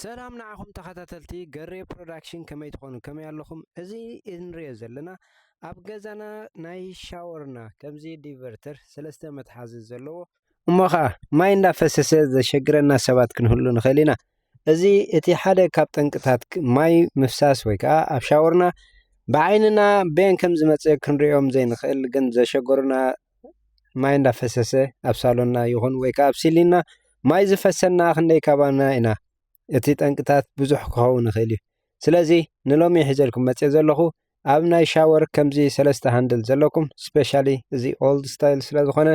ሰላም ንዓኹም ተኸታተልቲ ገሬ ፕሮዳክሽን ከመይ ትኾኑ ከመይ ኣለኹም? እዚ እንሪኦ ዘለና ኣብ ገዛና ናይ ሻወርና ከምዚ ዲቨርተር ሰለስተ መትሓዚ ዘለዎ እሞ ከዓ ማይ እንዳፈሰሰ ዘሸግረና ሰባት ክንህሉ ንኽእል ኢና። እዚ እቲ ሓደ ካብ ጠንቅታት ማይ ምፍሳስ ወይ ከዓ ኣብ ሻወርና ብዓይንና በየን ከም ዝመፅእ ክንሪኦም ዘይንኽእል ግን ዘሸገሩና ማይ እንዳፈሰሰ ኣብ ሳሎና ይኹን ወይ ከዓ ኣብ ሲሊና ማይ ዝፈሰና ክንደይ ካባና ኢና? እቲ ጠንቅታት ብዙሕ ክኸውን ይኽእል እዩ። ስለዚ ንሎሚ ሒዘልኩም መፅየ ዘለኹ ኣብ ናይ ሻወር ከምዚ ሰለስተ ሃንድል ዘለኩም ስፔሻሊ እዚ ኦልድ ስታይል ስለ ዝኾነ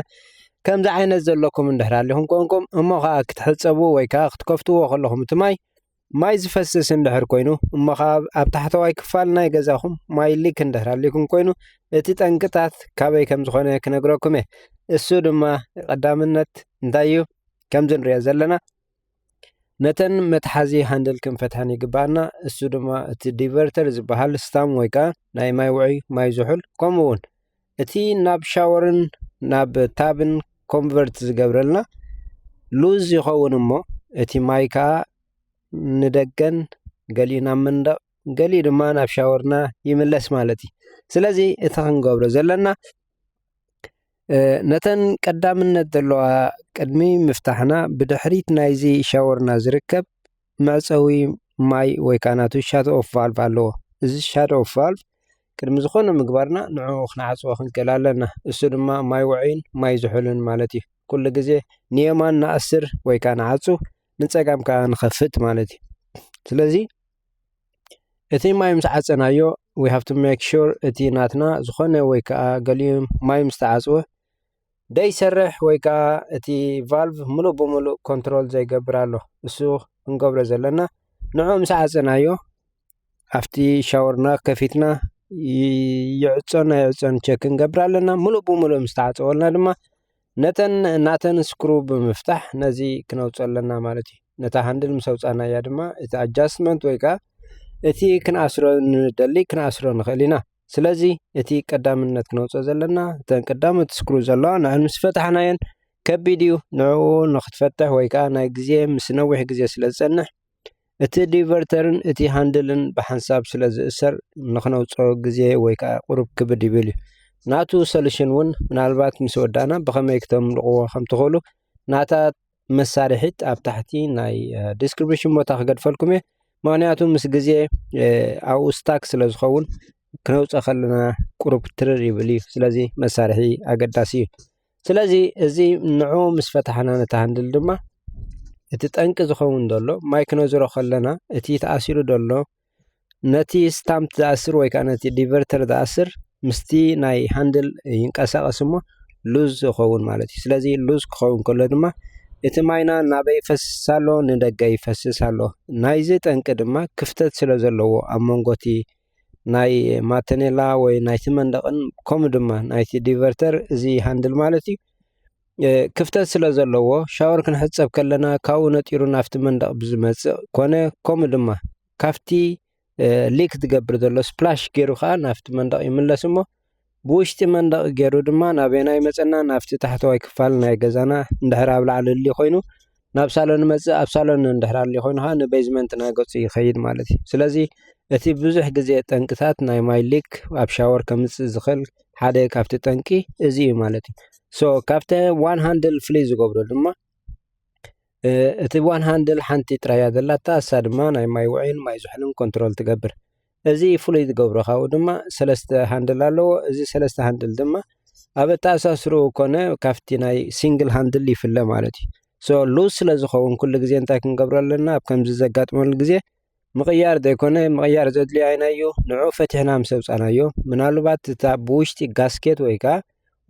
ከምዚ ዓይነት ዘለኩም እንድሕር ኣሊኹም ኮንኩም እሞ ከዓ ክትሕፀቡ ወይ ከዓ ክትከፍትዎ ከለኹም እቲ ማይ ማይ ዝፈስስ እንድሕር ኮይኑ እሞ ኸኣ ኣብ ታሕተዋይ ክፋል ናይ ገዛኹም ማይ ሊክ እንድሕር ኣሊኩም ኮይኑ እቲ ጠንቅታት ካበይ ከም ዝኾነ ክነግረኩም እየ። እሱ ድማ ቀዳምነት እንታይ እዩ ከምዚ ንሪኦ ዘለና ነተን መትሓዚ ሃንድል ክንፈትሐን ይግባኣና እሱ ድማ እቲ ዲቨርተር ዝበሃል ስታም ወይ ከዓ ናይ ማይ ውዑይ ማይ ዝሑል ከምኡ እውን እቲ ናብ ሻወርን ናብ ታብን ኮንቨርት ዝገብረልና ሉዝ ይኸውን እሞ እቲ ማይ ከኣ ንደገን ገሊኡ ናብ መንደቕ ገሊኡ ድማ ናብ ሻወርና ይምለስ ማለት እዩ። ስለዚ እቲ ክንገብሮ ዘለና ነተን ቀዳምነት ዘለዋ ቅድሚ ምፍታሕና ብድሕሪት ናይዚ ሻወርና ዝርከብ መዕጸዊ ማይ ወይ ከኣ ናቱ ሻቶ ኦፍ ቫልቭ ኣለዎ። እዚ ሻቶ ኦፍ ቫልቭ ቅድሚ ዝኾነ ምግባርና ንዕኡ ክንዓጽዎ ክንክእል ኣለና። እሱ ድማ ማይ ውዑይን ማይ ዝሑልን ማለት እዩ። ኩሉ ግዜ ንየማን ንኣስር ወይ ከኣ ንዓጹ ንጸጋም ከኣ ንኸፍት ማለት እዩ። ስለዚ እቲ ማይ ምስ ዓጸናዮ ዊ ሃቭ ቱ ሜክ ሹር እቲ ናትና ዝኾነ ወይ ከኣ ገሊኡ ማይ ምስ ተዓጽወ ደይሰርሕ ወይ ከኣ እቲ ቫልቭ ምሉእ ብምሉእ ኮንትሮል ዘይገብር ኣሎ እሱ ክንገብሮ ዘለና ንዑ ምስ ዓጸናዮ ኣብቲ ሻወርና ከፊትና ይዕጾን ኣይዕጾን ቸክ ክንገብር ኣለና ምሉእ ብምሉእ ምስ ተዓጸወልና ድማ ነተን ናተን ስክሩ ብምፍታሕ ነዚ ክነውፅ ኣለና ማለት እዩ ነታ ሃንድል ምስ ኣውፃናያ ድማ እቲ ኣጃስትመንት ወይ ከዓ እቲ ክንኣስሮ ንደሊ ክንኣስሮ ንኽእል ኢና ስለዚ እቲ ቀዳምነት ክነውፅኦ ዘለና እተን ቀዳሞት ዝስክሩ ዘለዋ ንዕን ምስ ፈታሕናየን ከቢድ እዩ ንዕኡ ንክትፈትሕ ወይ ከዓ ናይ ግዜ ምስ ነዊሕ ግዜ ስለ ዝፀንሕ እቲ ዲቨርተርን እቲ ሃንድልን ብሓንሳብ ስለ ዝእሰር ንክነውፆ ግዜ ወይ ከዓ ቁሩብ ክብድ ይብል እዩ ናቱ ሰሉሽን እውን ምናልባት ምስ ወዳእና ብከመይ ክተምልቕዎ ከም ትኽእሉ ናታ መሳርሒት ኣብ ታሕቲ ናይ ዲስክሪፕሽን ቦታ ክገድፈልኩም እየ ምክንያቱ ምስ ግዜ ኣብኡ ስታክ ስለ ዝኸውን ክነውፀ ከለና ቁሩብ ትርር ይብል እዩ ስለዚ መሳርሒ ኣገዳሲ እዩ ስለዚ እዚ ንዑ ምስ ፈታሕና ነቲ ሃንድል ድማ እቲ ጠንቂ ዝኸውን ዘሎ ማይ ክነዝሮ ከለና እቲ ተኣሲሩ ዘሎ ነቲ ስታምፕ ዝኣስር ወይ ከዓ ነቲ ዲቨርተር ዝኣስር ምስቲ ናይ ሃንድል ይንቀሳቐስ እሞ ሉዝ ይኸውን ማለት እዩ። ስለዚ ሉዝ ክኸውን ከሎ ድማ እቲ ማይና ናበይ ይፈስስ ኣሎ? ንደገ ይፈስስ ኣሎ። ናይዚ ጠንቂ ድማ ክፍተት ስለ ዘለዎ ኣብ መንጎ እቲ ናይ ማተኔላ ወይ ናይቲ መንደቕን ከምኡ ድማ ናይቲ ዲቨርተር እዚ ሃንድል ማለት እዩ ክፍተት ስለ ዘለዎ ሻወር ክንሕጸብ ከለና ካብኡ ነጢሩ ናፍቲ መንደቕ ብዝመጽእ ኮነ ከምኡ ድማ ካብቲ ሊክ ዝገብር ዘሎ ስፕላሽ ገይሩ ከዓ ናፍቲ መንደቕ ይምለስ እሞ ብውሽጢ መንደቕ ገይሩ ድማ ናበና ይመፀና ናፍቲ ታሕተዋይ ክፋል ናይ ገዛና እንድሕር ኣብ ላዕሊ ሊ ኮይኑ ናብ ሳሎን ይመጽእ ኣብ ሳሎን እንድሕር ኣልዩ ኮይኑ ከኣ ንበዝመንት ናይ ገጹ ይኸይድ ማለት እዩ። ስለዚ እቲ ብዙሕ ግዜ ጠንቅታት ናይ ማይ ሊክ ኣብ ሻወር ከምጽእ ዝኽእል ሓደ ካብቲ ጠንቂ እዚ እዩ ማለት እዩ። ሶ ካብቲ ዋን ሃንድል ፍልይ ዝገብሮ ድማ እቲ ዋን ሃንድል ሓንቲ ጥራይ እያ ዘላታ እሳ ድማ ናይ ማይ ውዑይን ማይ ዝሑልን ኮንትሮል ትገብር። እዚ ፍሉይ ዝገብሮ ካብኡ ድማ ሰለስተ ሃንድል ኣለዎ። እዚ ሰለስተ ሃንድል ድማ ኣብ ኣተኣሳስርኡ ኮነ ካብቲ ናይ ሲንግል ሃንድል ይፍለ ማለት እዩ ሶ ሉዝ ስለ ዝኸውን ኩሉ ግዜ እንታይ ክንገብሮ ኣለና ኣብ ከምዚ ዘጋጥመሉ ግዜ ምቕያር ዘይኮነ ምቕያር ዘድልዮ ኣይናዮ ንዑ ፈትሕና ምስ ኣውፃናዮ ምናልባት እታ ብውሽጢ ጋስኬት ወይ ከዓ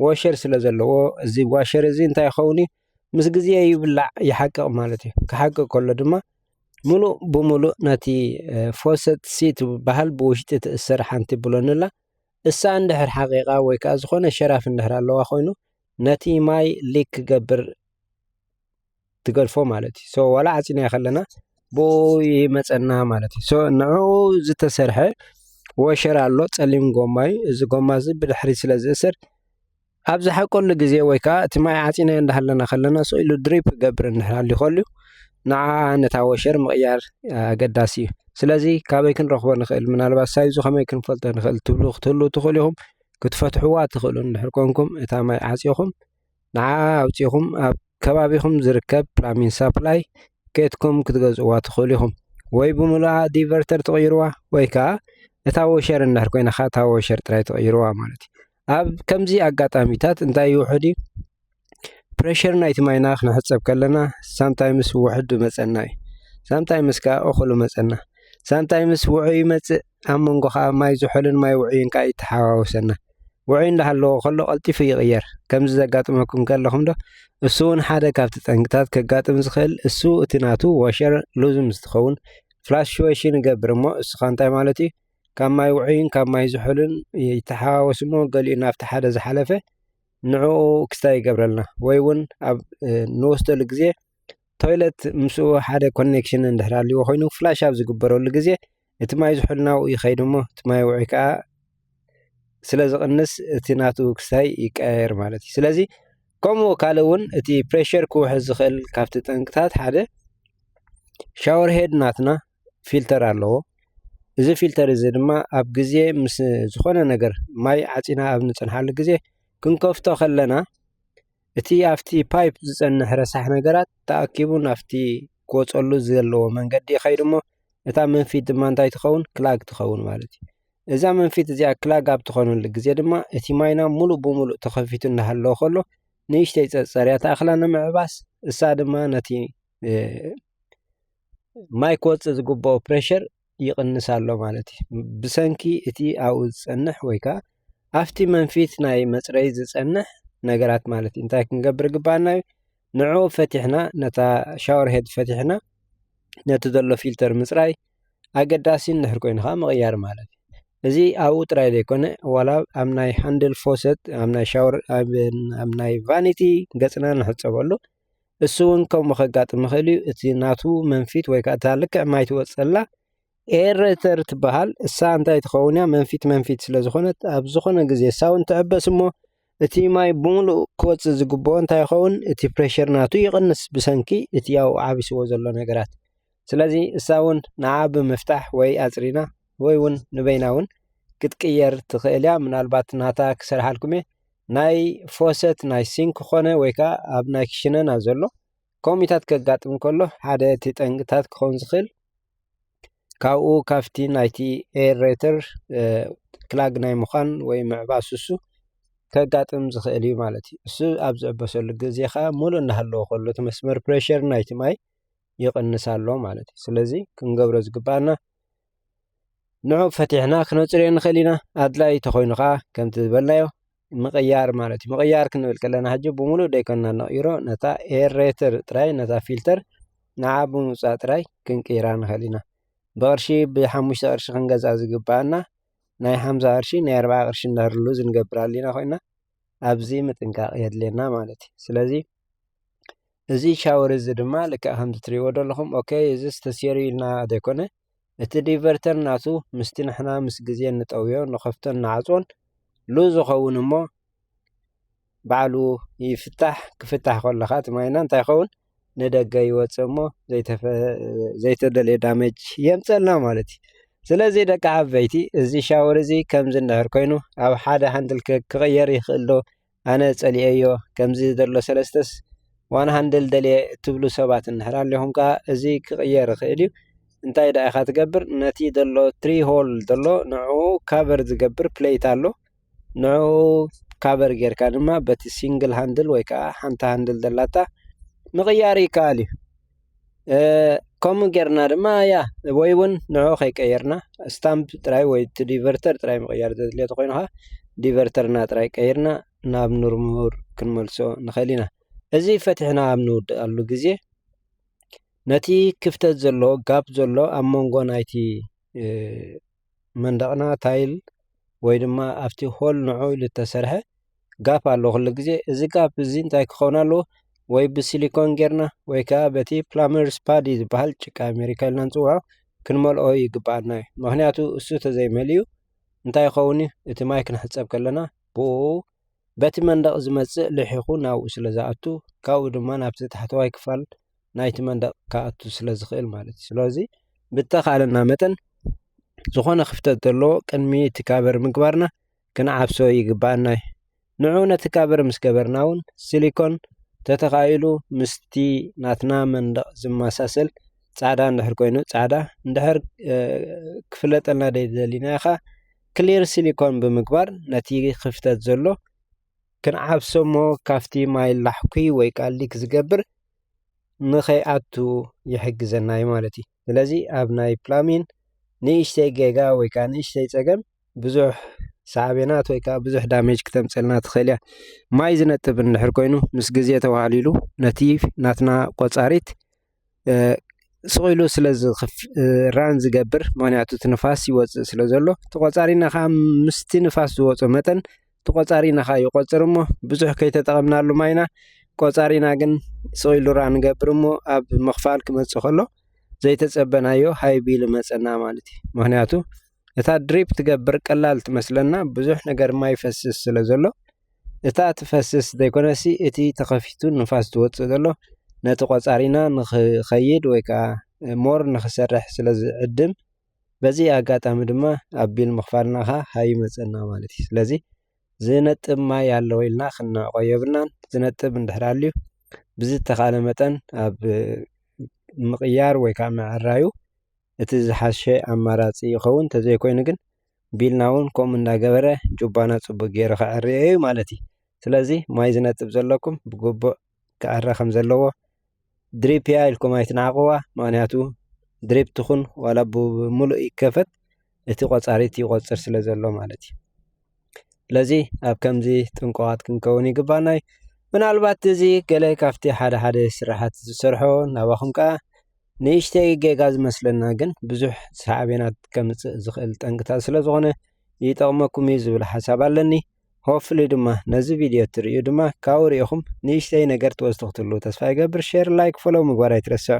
ዋሸር ስለ ዘለዎ እዚ ዋሸር እዚ እንታይ ይኸውን እዩ ምስ ግዜ ይብላዕ ይሓቅቕ ማለት እዩ ክሓቅቕ ከሎ ድማ ምሉእ ብምሉእ ነቲ ፎሰት ሲ ትበሃል ብውሽጢ ትእሰር ሓንቲ ብሎን ኣላ። እሳ እንድሕር ሓቂቓ ወይ ከኣ ዝኾነ ሸራፍ እንድሕር ኣለዋ ኮይኑ ነቲ ማይ ሊክ ክገብር ትገድፎ ማለት እዩ። ሶ ዋላ ዓጺናዮ ከለና ብኡ ይመጸና ማለት እዩ። ሶ ንዕኡ ዝተሰርሐ ወሸራ ኣሎ ጸሊም ጎማ እዩ። እዚ ጎማ እዚ ብድሕሪት ስለ ዝእሰር ኣብ ዝሓቀሉ ግዜ ወይ ከኣ እቲ ማይ ዓጺናዮ እንዳሃለና ከለና ስቅ ኢሉ ድሪፕ ክገብር እንድሕር ሃልዩ ከልዩ ንዓ ነታ ወሸር ምቕያር ኣገዳሲ እዩ። ስለዚ ካበይ ክንረኽቦ ንኽእል ምናልባት ሳይዙ ከመይ ክንፈልጦ ንኽእል ትብሉ ክትህልዉ ትኽእሉ ኢኹም። ክትፈትሕዋ ትኽእሉ እንድሕር ኮንኩም እታ ማይ ዓጺኹም ንዓ ኣውጺኹም ኣብ ከባቢኹም ዝርከብ ፕላሚን ሳፕላይ ኬትኩም ክትገዝእዋ ትኽእሉ ኢኹም። ወይ ብምሉኣ ዲቨርተር ትቕይርዋ ወይ ከኣ እታ ወሸር እንድሕር ኮይና ከኣ እታ ወሸር ጥራይ ትቕይርዋ ማለት እዩ። ኣብ ከምዚ ኣጋጣሚታት እንታይ ይውሕድ እዩ ፕረሸር ናይቲ ማይና ክንሕጸብ ከለና ሳምታይምስ ውሕድ ይመጸና እዩ ሳምታይምስ ከኣ እኹል ይመጸና ሳምታይምስ ውዑይ ይመጽእ ኣብ መንጎ ከኣ ማይ ዝሑልን ማይ ውዑይን ከኣ ይተሓዋወሰና ውዑይ እንዳሃለዎ ከሎ ቀልጢፉ ይቕየር ከምዚ ዘጋጥመኩም ከለኹም ዶ እሱ እውን ሓደ ካብቲ ጠንቅታት ከጋጥም ዝኽእል እሱ እቲ ናቱ ወሸር ሉዝም ዝትኸውን ፍላሽወሽን ይገብር እሞ እሱኻ እንታይ ማለት እዩ ካብ ማይ ውዑይን ካብ ማይ ዝሑልን ይተሓዋወስ እሞ ገሊኡ ናብቲ ሓደ ዝሓለፈ ንዕኡ ክስታይ ይገብረልና ወይ እውን ኣብ ንወስደሉ ግዜ ቶይለት ምስኡ ሓደ ኮኔክሽን እንድሕር ሃልይዎ ኮይኑ ፍላሽ ኣብ ዝግበረሉ ግዜ እቲ ማይ ዝሑል ናብኡ ይኸይድ እሞ እቲ ማይ ውዑይ ከዓ ስለ ዝቕንስ እቲ ናቱ ክስታይ ይቀያየር ማለት እዩ ስለዚ ከምኡ ካልእ እውን እቲ ፕሬሸር ክውሕዝ ዝኽእል ካብቲ ጠንቅታት ሓደ ሻወር ሄድ ናትና ፊልተር ኣለዎ። እዚ ፊልተር እዚ ድማ ኣብ ግዜ ምስ ዝኾነ ነገር ማይ ዓፂና ኣብ ንፀንሓሉ ግዜ ክንከፍቶ ከለና እቲ ኣብቲ ፓይፕ ዝፀንሕ ረሳሕ ነገራት ተኣኪቡ ናብቲ ክወፀሉ ዘለዎ መንገዲ ይኸይድ እሞ እታ መንፊት ድማ እንታይ ትኸውን ክላግ ትኸውን ማለት እዩ። እዛ መንፊት እዚኣ ክላግ ኣብ ትኾነሉ ግዜ ድማ እቲ ማይና ሙሉእ ብሙሉእ ተኸፊቱ እናሃለወ ከሎ ንእሽተይ ፀፀርያ ተኣኽላ ንምዕባስ እሳ ድማ ነቲ ማይ ክወፅእ ዝግብኦ ፕሬሸር ይቕንስ ኣሎ ማለት እዩ። ብሰንኪ እቲ ኣብኡ ዝፀንሕ ወይ ከዓ ኣብቲ መንፊት ናይ መፅረይ ዝፀንሕ ነገራት ማለት እዩ። እንታይ ክንገብር ይግባኣና እዩ? ንዕኡ ፈቲሕና ነታ ሻወር ሄድ ፈቲሕና ነቲ ዘሎ ፊልተር ምፅራይ ኣገዳሲ እንድሕር ኮይኑ ከዓ ምቕያር ማለት እዩ። እዚ ኣብኡ ጥራይ ዘይኮነ ዋላ ኣብ ናይ ሃንድል ፎሰት ኣብ ናይ ሻወር ኣብ ናይ ቫኒቲ ገፅና ንሕፀበሉ እሱ እውን ከምኡ ከጋጥም ይኽእል እዩ እቲ ናቱ መንፊት ወይ ከዓ እታ ልክዕ ማይ ትወፅላ ኤረተር ትበሃል እሳ እንታይ ትኸውን እያ መንፊት መንፊት ስለ ዝኾነት ኣብ ዝኾነ ግዜ እሳ እውን ትዕበስ እሞ እቲ ማይ ብምሉእ ክወፅእ ዝግብኦ እንታይ ይኸውን እቲ ፕሬሸር ናቱ ይቕንስ ብሰንኪ እቲ ያው ዓቢስዎ ዘሎ ነገራት ስለዚ እሳ እውን ንዓ ብምፍታሕ ወይ ኣፅሪና ወይ እውን ንበይና እውን ክትቅየር ትኽእል እያ ምናልባት ናታ ክሰርሓልኩም እየ ናይ ፎሰት ናይ ሲንክ ኮነ ወይ ከዓ ኣብ ናይ ክሽነና ዘሎ ኮሚታት ከጋጥም ከሎ ሓደ እቲ ጠንቅታት ክኸውን ዝኽእል ካብኡ ካብቲ ናይቲ ኤሬተር ክላግ ናይ ምዃን ወይ ምዕባ ስሱ ከጋጥም ዝኽእል እዩ ማለት እዩ እሱ ኣብ ዝዕበሰሉ ግዜ ከዓ ሙሉ እናሃለዎ ከሎ እቲ መስመር ፕሬሸር ናይቲ ማይ ይቕንስ ኣሎ ማለት እዩ ስለዚ ክንገብሮ ዝግባኣና ንዑ ፈቲሕና ክነፅርዮ ንኽእል ኢና ኣድላይ ተኾይኑ ከዓ ከምቲ ዝበልናዮ ምቕያር ማለት እዩ ምቕያር ክንብል ከለና ሕጂ ብምሉእ ደይኮንና ነቕይሮ ነታ ኤሬትር ጥራይ ነታ ፊልተር ንዓ ብምውፃእ ጥራይ ክንቅይራ ንኽእል ኢና ብቕርሺ ብሓሙሽተ ቕርሺ ክንገዝኣ ዝግብኣና ናይ ሓምሳ ቕርሺ ናይ ኣርብዓ ቕርሺ እንዳርሉ ዝንገብር ኣሊና ኮይና ኣብዚ ምጥንቃቕ የድልየና ማለት እዩ። ስለዚ እዚ ሻወር እዚ ድማ ልክዕ ከምዚ ትሪእዎ ዘለኹም ኦኬ እዚ ተሰይሩ ኢልና ዘይኮነ እቲ ዲቨርተር ናቱ ምስቲ ንሕና ምስ ግዜ ንጠውዮ ንኸፍቶን ንዓፅዎን ሉዝ ይኸውን እሞ ባዕሉ ይፍታሕ ክፍታሕ ከለኻ እቲ ማይና እንታይ ይኸውን ንደገ ይወጽእ እሞ ዘይተደልየ ዳመጅ የምጸልና ማለት እዩ ስለዚ ደቂ ዓበይቲ እዚ ሻወር እዚ ከምዚ እንድሕር ኮይኑ ኣብ ሓደ ሃንድል ክቕየር ይኽእልዶ ኣነ ጸሊኤዮ ከምዚ ዘሎ ሰለስተስ ዋን ሃንድል ደልየ እትብሉ ሰባት እንድሕር ኣለኹም ከኣ እዚ ክቕየር ይኽእል እዩ እንታይ ደኣ ኢኻ ትገብር ነቲ ዘሎ ትሪ ሆል ዘሎ ንዕኡ ካቨር ዝገብር ፕለይት ኣሎ። ንዕኡ ካቨር ጌርካ ድማ በቲ ሲንግል ሃንድል ወይ ከዓ ሓንቲ ሃንድል ዘላታ ምቕያር ይከኣል እዩ። ከምኡ ጌርና ድማ ያ ወይ እውን ንዕኡ ከይቀየርና ስታምፕ ጥራይ ወይ እቲ ዲቨርተር ጥራይ ምቕያር ዘድልዮ ተኾይኑ ከዓ ዲቨርተርና ጥራይ ቀይርና ናብ ንርሙር ክንመልሶ ንኽእል ኢና። እዚ ፈቲሕና ኣብ ንውድኣሉ ግዜ ነቲ ክፍተት ዘሎ ጋፕ ዘሎ ኣብ መንጎ ናይቲ መንደቕና ታይል ወይ ድማ ኣብቲ ሆል ንዑ ኢሉ ዝተሰርሐ ጋፕ ኣሎ ኩሉ ግዜ እዚ ጋፕ እዚ እንታይ ክኸውን ኣለዎ ወይ ብሲሊኮን ጌርና ወይ ከዓ በቲ ፕላመር ስፓዲ ዝበሃል ጭቃ ኣሜሪካ ኢልና ንፅውዖ ክንመልኦ ይግበኣና እዩ ምክንያቱ እሱ ተዘይመልዩ እንታይ ይኸውን እዩ እቲ ማይ ክንሕፀብ ከለና ብኡ በቲ መንደቕ ዝመፅእ ልሒኹ ናብኡ ስለ ዝኣቱ ካብኡ ድማ ናብቲ ታሕተዋይ ክፋል ናይቲ መንደቕ ክኣቱ ስለ ዝኽእል ማለት እዩ። ስለዚ ብእተኻእለና መጠን ዝኾነ ክፍተት ዘለዎ ቅድሚ እቲ ካቨር ምግባርና ክንዓብሶ ይግብኣና እዩ። ንዑ ነቲ ካቨር ምስ ገበርና እውን ሲሊኮን ተተኻኢሉ ምስቲ ናትና መንደቕ ዝመሳሰል ጻዕዳ እንድሕር ኮይኑ ጻዕዳ እንድሕር ክፍለጠልና ደሊና ኢኻ ክሊር ሲሊኮን ብምግባር ነቲ ክፍተት ዘሎ ክንዓብሰ'ሞ ካብቲ ማይ ላሕኲ ወይ ከኣ ሊክ ዝገብር ንኸይኣቱ ይሕግዘና'ዩ ማለት እዩ። ስለዚ ኣብ ናይ ፕላሚን ንእሽተይ ጌጋ ወይ ከኣ ንእሽተይ ጸገም ብዙሕ ሳዕቤናት ወይ ከኣ ብዙሕ ዳሜጅ ክተምጽእልና ትኽእል እያ። ማይ ዝነጥብ እንድሕር ኮይኑ ምስ ግዜ ተዋህሊሉ ነቲ ናትና ቆጻሪት ስቑኢሉ ስለ ራን ዝገብር ምክንያቱ እቲ ንፋስ ይወፅእ ስለ ዘሎ ተቖፃሪና ከዓ ምስቲ ንፋስ ዝወፆ መጠን ተቖፃሪና ከዓ ይቖፅር እሞ ብዙሕ ከይተጠቐምናሉ ማይና ቆፃሪና ግን ስቑኢሉ ራን ንገብር እሞ ኣብ ምኽፋል ክመፅእ ከሎ ዘይተፀበናዮ ሃይቢ ኢሉ ይመፀና ማለት እዩ፡፡ ምክንያቱ እታ ድሪፕ ትገብር ቀላል ትመስለና ብዙሕ ነገር ማይ ይፈስስ ስለ ዘሎ፡፡ እታ ትፈስስ ዘይኮነሲ እቲ ተኸፊቱ ንፋስ ዝወጽእ ዘሎ ነቲ ቆጻሪና ንኽኸይድ ወይ ከኣ more ንኽሰርሕ ስለ ዝዕድም በዚ ኣጋጣሚ ድማ ኣቢል ምኽፋልና ከኣ ሃዩ ይመጸና ማለት እዩ ስለዚ ዝነጥብ ማይ ኣሎ ኢልና ክንንዕቆ የብልናን ዝነጥብ እንድሕር ኣልዩ ብዝተኻለ መጠን ኣብ ምቕያር ወይ ከኣ ምዕራዩ እቲ ዝሓሸ ኣማራጺ ይኸውን ተዘይኮይኑ ግን ቢልና እውን ከምኡ እንዳገበረ ጁባና ፅቡቅ ገይሩ ከዐርዮ እዩ ማለት እዩ። ስለዚ ማይ ዝነፅብ ዘለኩም ብግቡእ ክዐሪ ከም ዘለዎ ድሪፕ እያ ኢልኩም ኣይትንዓቅዋ ምክንያቱ ድሪፕ ትኹን ዋላ ብምሉእ ይከፈት እቲ ቆፃሪት ይቆፅር ስለ ዘሎ ማለት እዩ። ስለዚ ኣብ ከምዚ ጥንቁቃት ክንከውን ይግባና እዩ። ምናልባት እዚ ገለ ካብቲ ሓደ ሓደ ስራሓት ዝሰርሖ ናባኹም ከዓ ንእሽተይ ጌጋ ዝመስለና ግን ብዙሕ ሳዕቤናት ከምጽእ ዝኽእል ጠንቅታት ስለ ዝኾነ ይጠቕመኩም እዩ ዝብል ሓሳብ ኣለኒ ሆፍሊ ድማ ነዚ ቪድዮ እትርእዩ ድማ ካብኡ ርኢኹም ንእሽተይ ነገር ትወስዱ ክትህሉ ተስፋ ይገብር ሼር ላይክ ፎሎው ምግባር ኣይትረስዕ